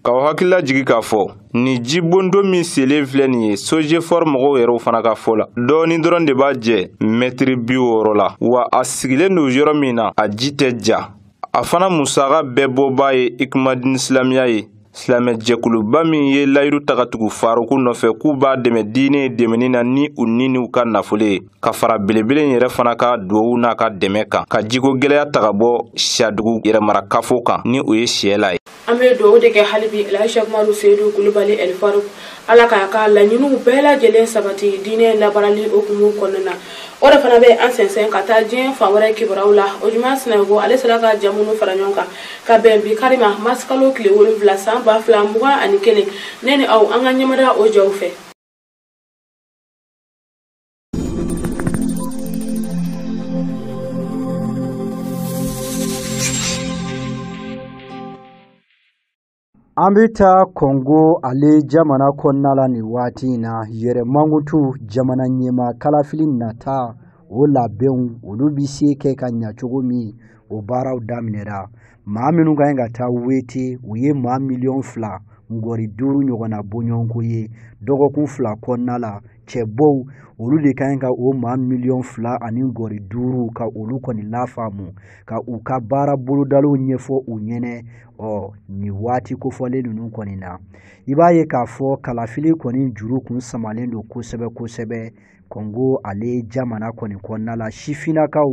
Speaker 4: k'aw hakili lajigi k'a fɔ nin jibondo min selen filɛ nin ye sojefɔr mɔgɔw yɛrɛw fana ka fɔ la dɔɔni dɔrɔn de b'a jɛ mɛtiri bi wɔɔrɔ la wa a sigilen don yɔrɔ min na a ji tɛ ja a fana musaka bɛɛ bɔbaa ye ikumadini silamiya ye silamɛ jɛkuluba min ye layiru ta ka tugu faruku nɔfɛ k'u b'a dɛmɛ diinɛ dɛmɛni na ni u ni n'u ka nafolo ye ka fara belebele in yɛrɛ fana ka duwawu n'a ka dɛmɛ kan ka jiko gɛlɛya ta ka bɔ siyadugu yɛrɛmarakafo kan ni o ye siyɛla ye an bɛ dugawu de
Speaker 1: kɛ hali bi alhaji umaru seyidu kulubali ɛlifaruku ala k'a ka laɲiniw bɛɛ lajɛlen sabati diinɛ labaarali hukumu kɔnɔna na o de fana bɛ an sɛnsɛn ka taa diɲɛ fan wɛrɛ kibaruyaw la ojuma sinayɔgɔ ale sera ka ja minnu fara ɲɔgɔn kan ka bɛn bi kari ma marisikalo tile wolonwula san ba fila mugan ani kelen ne ni aw an ka ɲɛmada o jaw fɛ
Speaker 2: An bɛ taa Kɔngo ale jamana kɔnɔna la nin waati in na yɛrɛ mankutu jamana ɲɛmaa kalafili nata o labɛnw olu bɛ se kɛ ka ɲa cogo min o baaraw daminɛra maa minnu ka ɲi ka taa wete u ye maa miliyɔn fila ngɔri duuru ɲɔgɔnna bɔɲɔgɔnko ye dɔgɔkun fila kɔnɔna la cɛbɔw olu de ka ɲi ka o maa miliyɔn fila ani ngɔri duuru ka olu kɔni lafaamu ka u ka baara bolodaliw ɲɛfɔ u ɲɛna ɔ nin waati kofɔlen ninnu kɔni na i b'a ye k'a fɔ kalafili kɔni juru kun samalen don kosɛbɛ kosɛbɛ kɔngo ale jamana kɔni kɔnɔna la sifinnakaw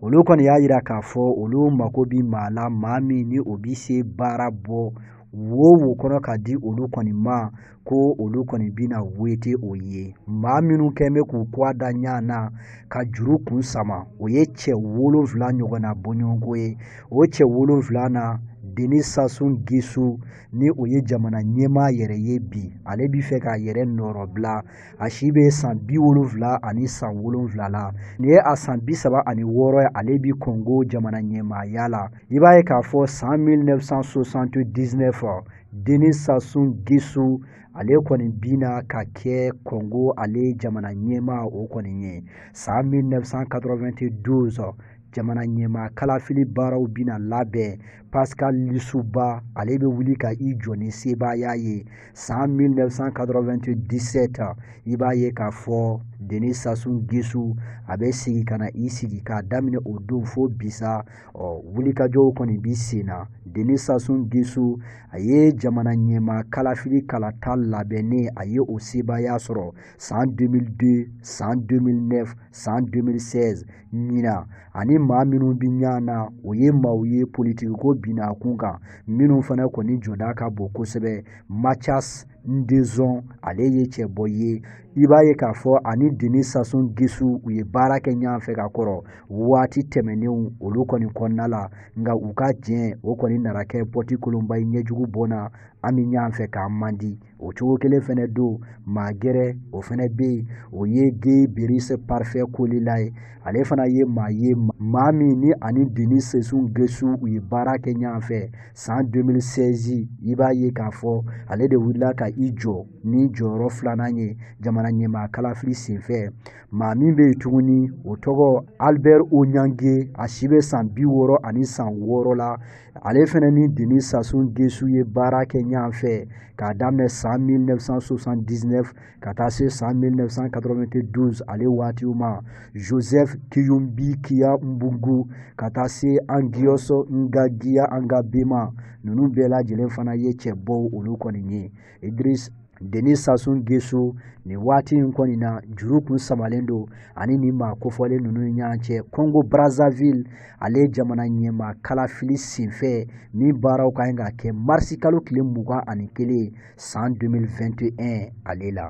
Speaker 2: olu kɔni y'a jira k'a fɔ olu mako bi maa la maa min ni o bi se baara bɔ wo wo kɔnɔ ka di olu kɔni ma ko olu kɔni bina wete o ye maa minnu kɔni bɛ k'u kɔ da ɲa na ka juru kun sama o ye cɛ wolonfila ɲɔgɔnna bɔɲɔgɔnko ye o cɛ wolonfila na deni sasu ngesu ni o ye jamana ɲɛmaa yɛrɛ ye bi ale bi fɛ k'a yɛrɛ nɔrɔbila a si bɛ san bi wolonwula ani san wolonwula la nin ye a san bi saba ani wɔɔrɔ ye ale bi kɔngo jamana ɲɛmaaya la i b'a ye k'a fɔ san 1979 deni sasu ngesu ale kɔni bina ka kɛ kɔngo ale jamana ɲɛmaa o kɔni ye san 1992 jamana ɲɛmaa kalafili baaraw bina labɛn pascal lisuba ale bɛ wuli ka i jɔ ni sebaaya ye san 1997 i b'a ye k'a fɔ deni sasu ngesu a bɛ segin ka na i sigi k'a daminɛ o don fo bi sa ɔ wulikajɔw kɔni bi sen na deni sasu ngesu a ye jamana ɲɛmaa kalafili kalata labɛnnen a ye o sebaaya sɔrɔ san 2002 san 2009 san 2016 ɲina ani maa minnu bi ɲa na o ye maaw ye politikiko binna a kun kan minnu fana kɔni jɔda ka bon kosɛbɛ mathias dzon ale ye cɛbɔ ye i b'a ye k'a fɔ ani denis sassou nguesso u ye baara kɛ ɲɔgɔn fɛ ka kɔrɔ waati tɛmɛnenw olu kɔni kɔnɔna la nka u ka jɛn o kɔni nana kɛ pɔti kolonba ye ɲɛjugu bɔnna an bɛ ɲɔgɔn fɛ k'an man di o cogo kelen fɛnɛ don maa gɛrɛ o fɛnɛ bɛ yen o ye guy brice parfait kolelas ye ale fana ye maa ye maa min ni ani denis sassou nguesso u ye baara kɛ ɲɔgɔn fɛ san 2016 i b'a ye k'a fɔ ale de wulila ka i jɔ ni jɔyɔrɔ filanan ye jamana ɲɛmaa kalafili senfɛ maa min bɛ yen tuguni o tɔgɔ albert oniangue a si bɛ san bi wɔɔrɔ ani san wɔɔrɔ la ale fana ni denis sassou nguesso ye baara kɛ ɲɔgɔn fɛ k'a daminɛ san 1979 ka taa se san 1992 ale waatiw ma joseph kignoumbi kia mboungou ka taa se anguios nganguia engambe ma ninnu bɛɛ lajɛlen fana ye cɛbɔw olu kɔni ye idris denis sassou nguesso nin waati in kɔni na juru kun samalen don ani nin maa kofɔlen ninnu ni ɲɔgɔn cɛ congo brazzaville ale jamana ɲɛmaa kalafili senfɛ min baaraw ka ɲi ka kɛ marisi kalo tile mugan ani kelen san 2021 ale la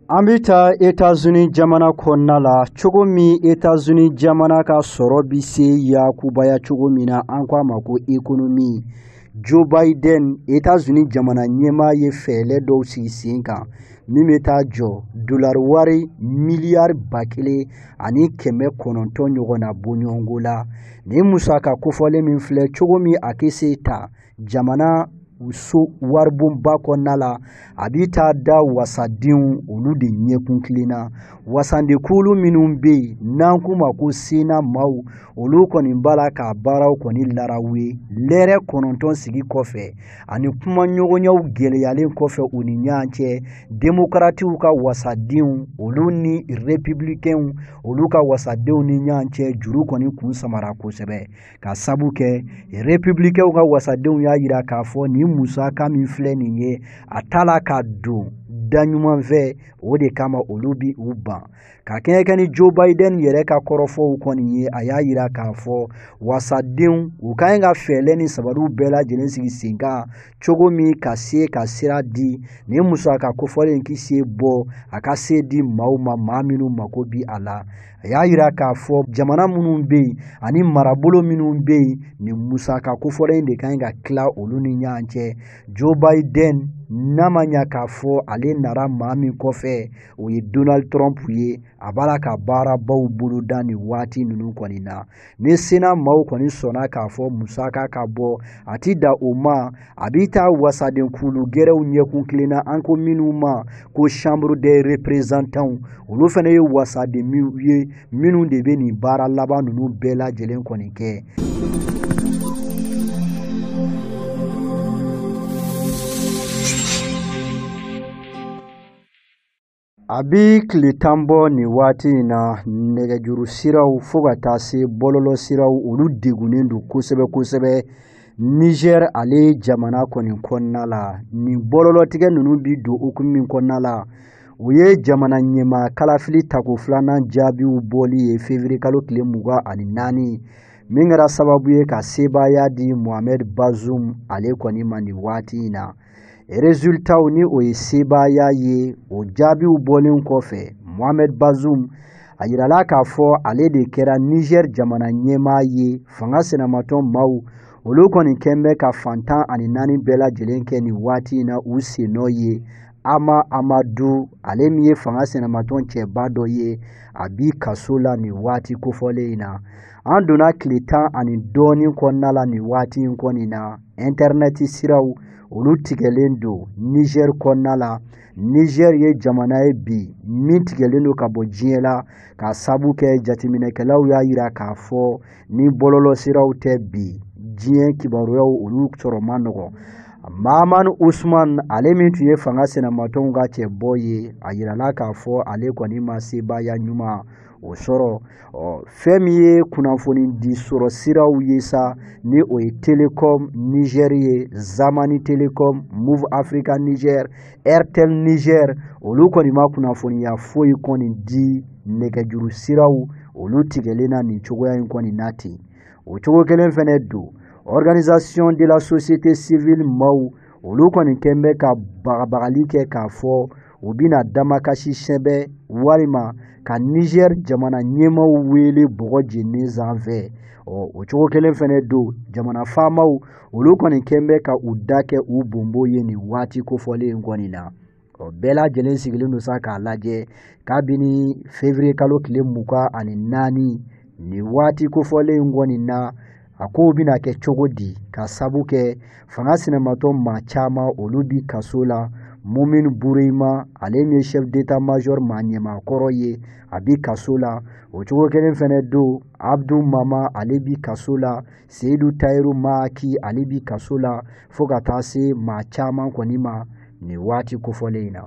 Speaker 2: an bɛ taa etazini jamana kɔnɔna la cogo min etazini jamana ka sɔrɔ bɛ se yakubaya cogo min na an k'a ma ko ekonomi joe biden etazini jamana ɲɛmaa ye fɛɛlɛ dɔw sigi sen kan min bɛ taa jɔ dolari wari miliyari ba kelen ani kɛmɛ kɔnɔntɔn ɲɔgɔnna bɔɲɔgɔnko la nin musaka kofɔlen min filɛ cogo min a kɛ se ta jamana so waribonba kɔnɔna la a bɛ taa da wasadenw olu de ɲɛkun kilenna wasadenkulu minnu bɛ yen n'an k'u ma ko sena maaw olu kɔni b'a la k'a baaraw kɔni laraw ye lɛrɛ kɔnɔntɔn sigi kɔfɛ ani kumaɲɔgɔnyaw gɛlɛyalen kɔfɛ u ni ɲɔgɔn cɛ demokaratiw ka wasadenw olu ni repibilikɛnw olu ka wasadenw ni ɲɔgɔn cɛ juru kɔni kun samara kosɛbɛ K'a sabu kɛ républicainw ka wasadenw y'a yira k'a fɔ nin musaka min filɛ nin ye a t'a la ka don da ɲuman fɛ o de kama olu bi u ban ka kɛɲɛ kɛ ni Joe Biden yɛrɛ ka kɔrɔfɔw kɔni ye a y'a yira k'a fɔ wasadenw u ka ɲi ka fɛɛlɛ ni sabaliw bɛɛ lajɛlen sigi sen kan cogo min ka se ka sira di nin musaka kofɔlen in k'i se bɔ a ka se di maaw ma maa minnu mako bi a la a y'a yira k'a fɔ jamana minnu bɛ yen ani marabolo minnu bɛ yen nin musaka kofɔlen in de ka ɲi ka tila olu ni ɲɔgɔn cɛ joe biden n'a ma ɲa k'a fɔ ale nara maa min kɔfɛ o ye donald trump ye a b'a la ka baarabaw boloda nin waati ninnu kɔni na ni sena maaw kɔni sɔnna k'a fɔ musaka ka bɔ a ti dan o ma a bi taa wasaden kulu gɛrɛw ɲɛkun kilenna an ko minnu ma ko chambre des représentants olu fana ye wasaden minnu ye minnu de bɛ nin baara laban ninnu bɛɛ lajɛlen kɔni kɛ A bɛ tile tan bɔ nin waati in na nɛgɛjuru siraw fo ka taa se bɔlɔlɔ siraw olu degunnen don kosɛbɛ kosɛbɛ nizɛr ale jamana kɔni kɔnɔna la nin bɔlɔlɔtigɛ ninnu bɛ don hukumu min kɔnɔna la o ye jamana ɲɛmaa kalafili tako filanan jaabiw bɔli ye fevriye kalo tile mugan ani naani min kɛra sababu ye ka sebaaya di Mohamed Bazoum ale kɔni ma nin waati in na Rezultaw ni o ye sebaaya ye o jaabiw bɔlen kɔfɛ Mohamed Bazoum a yirala k'a fɔ ale de kɛra Niger jamana ɲɛmaa ye fanga sinamatɔn maaw olu kɔni kɛn bɛ ka fan tan ani naani bɛɛ lajɛlen kɛ nin waati in na u sennɔ ye Hama Amadou ale min ye fanga sinamatɔn cɛba dɔ ye a bi kaso la nin waati kofɔlen in na an donna tile tan ani dɔɔnin kɔnɔna la nin waati in kɔni na ɛntɛrinɛti siraw olu tigɛlen don nizɛri kɔnɔna la nizɛri ye jamana ye bi min tigɛlen don ka bɔ diɲɛ la ka sabu kɛ jateminɛkɛlaw y'a yira k'a fɔ ni bɔlɔlɔ siraw tɛ bi diɲɛ kibaruyaw olu sɔrɔ man nɔgɔ Mahamane Ousmane ale min tun ye fanga sinamatɔnw ka cɛbɔ ye a yirala k'a fɔ ale kɔni ma sebaaya ɲuman o sɔrɔ ɔ fɛn min ye kunnafoni di sɔrɔ siraw ye sa ni o ye telecom niger ye zamani telecom moov africa niger airtel niger olu kɔni ma kunnafoniya foyi kɔni di nɛgɛjuru siraw olu tigɛlen na nin cogoya in kɔni na ten o cogo kelen fɛnɛ don organisation de la société civile maaw olu kɔni kɛn bɛ ka bagabagali kɛ k'a fɔ u bɛna damakasi sɛbɛn walima ka nizɛri jamana ɲɛmaaw wele bɔgɔ jeninen sanfɛ ɔ o cogo kelen fɛnɛ don jamana faamaw olu kɔni kɛn bɛ ka u da kɛ u bonbo ye nin waati kofɔlen in kɔni na ɔ bɛɛ lajɛlen sigilen don sa k'a lajɛ kabini fevriye kalo tile mugan ani naani nin waati kofɔlen in kɔni na a kow bɛna kɛ cogo di ka sabu kɛ fanga sinamatɔn maa caman olu bi kaso la mumin bureima ale min ye chef d'état major maa ɲɛmaakɔrɔ ye a bi kaso la o cogo kelen fɛnɛ don abdu mama ale bi kaso la seyidu tayiru mayaki ale bi kaso la fo ka taa se maa caman kɔni ma nin waati kofɔlen in na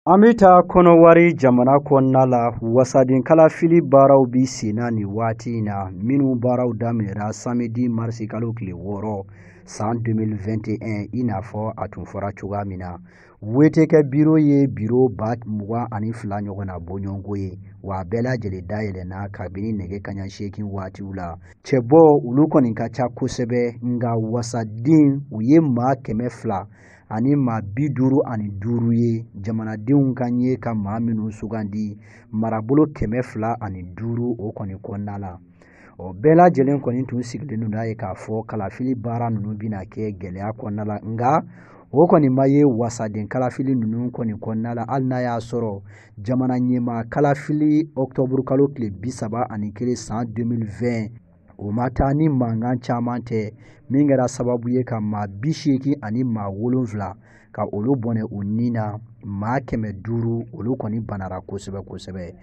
Speaker 2: An bɛ taa kɔnɔwari jamana kɔnɔna la wasaden kalafili baaraw bi sen na nin waati in na minnu baaraw daminɛra samedi marisi kalo tile wɔɔrɔ san 2021 i n'a fɔ a tun fɔra cogoya min na wetekɛ biro ye biro ba mugan ani fila ɲɔgɔn na bɔɲɔgɔnko ye wa a bɛɛ lajɛlen dayɛlɛnna kabini nɛgɛ kaɲa seegin waatiw la cɛbɔ olu kɔni ka ca kosɛbɛ nka wasaden u ye maa kɛmɛ fila ani maa bi duuru ani duuru ye jamanadenw ka ɲɛ ka maa minnu sugandi marabolo kɛmɛ fila ani duuru o kɔni kɔnɔna la o bɛɛ lajɛlen kɔni tun sigilen don n'a ye k'a fɔ kalafili baara ninnu bɛna kɛ gɛlɛya kɔnɔna la nka o kɔni ma ye wasaden kalafili ninnu kɔni kɔnɔna la hali n'a y'a sɔrɔ jamana ɲɛmaa kalafili ɔkutɔburu kalo tile bi saba ani kelen san 2020 o ma taa ni mankan caman tɛ min kɛra sababu ye ka maa bi seegin ani maa wolonfila ka olu bɔnɛ u ni na maa kɛmɛ duuru olu kɔni banara kosɛbɛ kosɛbɛ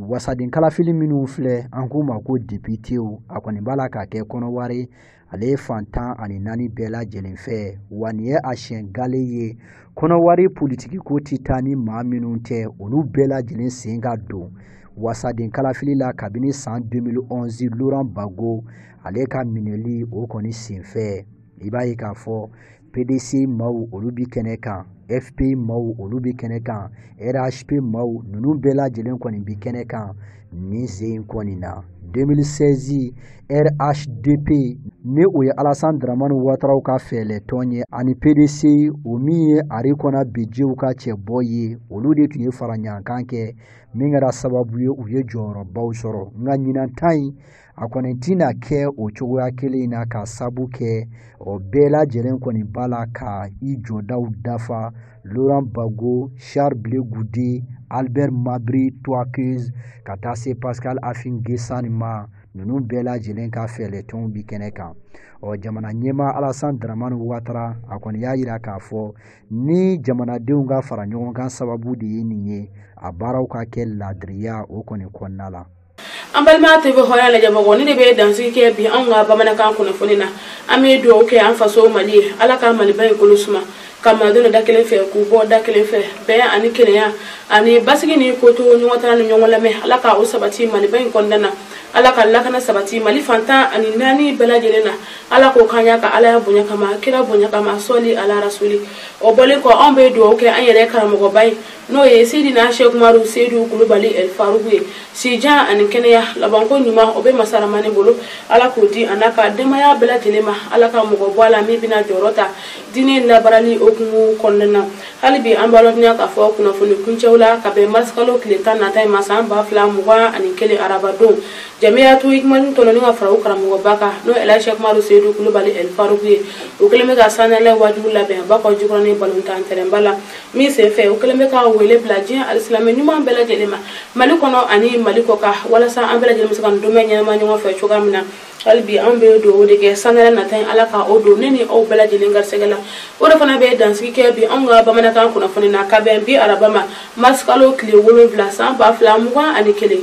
Speaker 2: wasaden kalafili minnu filɛ an k'u ma ko depitew a kɔni b'a la k'a kɛ kɔnɔwari ale ye fan tan ani naani bɛɛ lajɛlen fɛ wa nin ye a siɲɛ gale ye kɔnɔwari politikiko tɛ taa ni maa minnu tɛ olu bɛɛ lajɛlen sen ka don wasaden kalafili la kabini san 2011 laurent gbagbo ale ka minɛli o kɔni senfɛ i b'a ye k'a fɔ PDCI maaw olu bi kɛnɛ kan FPI maaw olu bi kɛnɛ kan rhp maaw ninnu bɛɛ lajɛlen kɔni bi kɛnɛ kan nin sen in kɔni na 2016 RHDP ni o ye Alassane Dramane Ouattaraw ka fɛɛlɛtɔn ye ani PDCI o min ye Henri Konan Bédiéw ka cɛbɔ ye olu de tun ye fara ɲɔgɔnkan kɛ min kɛra sababu ye u ye jɔyɔrɔbaw sɔrɔ nka ɲinan ta in a kɔni tɛna kɛ o cogoya kelen in na ka sabu kɛ o bɛɛ lajɛlen kɔni b'a la ka i jɔdaw dafa laurent gbagbo charles blé goudé albert mabri toikeusse ka taa se pascal affi n'guessan ma ninnu bɛɛ lajɛlen ka fɛɛlɛtɔnw bi kɛnɛ kan ɔ jamana ɲɛmaa alasan dramani watara a kɔni y'a yira k'a fɔ ni jamanadenw ka fara ɲɔgɔn kan sababu de ye nin ye a baaraw ka kɛ ladiriya o kɔni kɔnɔna la an
Speaker 1: balima tv hɔrɔnya lajɛbagaw ne de bɛ dansigi kɛ bi anw ka bamanankan kunnafoni na an bɛ dugawu kɛ an faso mali ye ala ka maliba in kolo suma ka malidenw don da kelen fɛ k'u bɔ da kelen fɛ bɛn ani kelenya ani basigi ni kotoɲɔgɔntala ni ɲɔgɔn lamɛn ala ka o sabati maliba in kɔnɔna na ala ka lakana sabati mali fan tan ani naani bɛɛ lajɛlen na ala k'o k'an ye a ka alaya bonya kama kira bonya kama sɔli ala rasuli o bɔlen kɔ anw bɛ dugawu kɛ an yɛrɛ karamɔgɔba ye n'o ye seydina sɛku umaru seydu kulubali el faruku ye sijan ani kɛnɛya labanko ɲuman o bɛ masa ramani bolo ala k'o di a n'a ka denbaya bɛɛ lajɛlen ma ala ka mɔgɔ bɔ a la min bɛna jɔyɔrɔ ta diinɛ labaarali hukumu kɔnɔna na hali bi an b'a ladɔnniya k'a fɔ kunnafoni kuncɛw la ka bɛn marisikalo tile tan nata in ma san ba fila mugan ani kelen arabadon jamiyatu hikimani tɔnɔni ka fara u karamɔgɔba kan n'o ye sɛku umaru seyidu kulubali ɛl faruku ye u kɛlen bɛ ka sanyɛlɛn waajuba labɛn bakɔ jikɔrɔni balontan tɛrɛnba la min senfɛ u kɛlen bɛ ka wele bila diɲɛ alisilame ɲuman bɛɛ lajɛlen ma mali kɔnɔ ani mali kɔkan walasa an bɛɛ lajɛlen bɛ se ka nin donba in ɲɛnama ɲɔgɔn fɛ cogoya min na hali bi an bɛ dugawu de kɛ sanyɛlɛn nata ye ala ka o don ne ni aw bɛɛ lajɛlen garisɛgɛ la o de fana bɛ dansigi kɛ bi anw ka bamanankan kunnafoni na ka bɛn bi araba ma mars kalo tile wolonwula san ba fila mugan ani kelen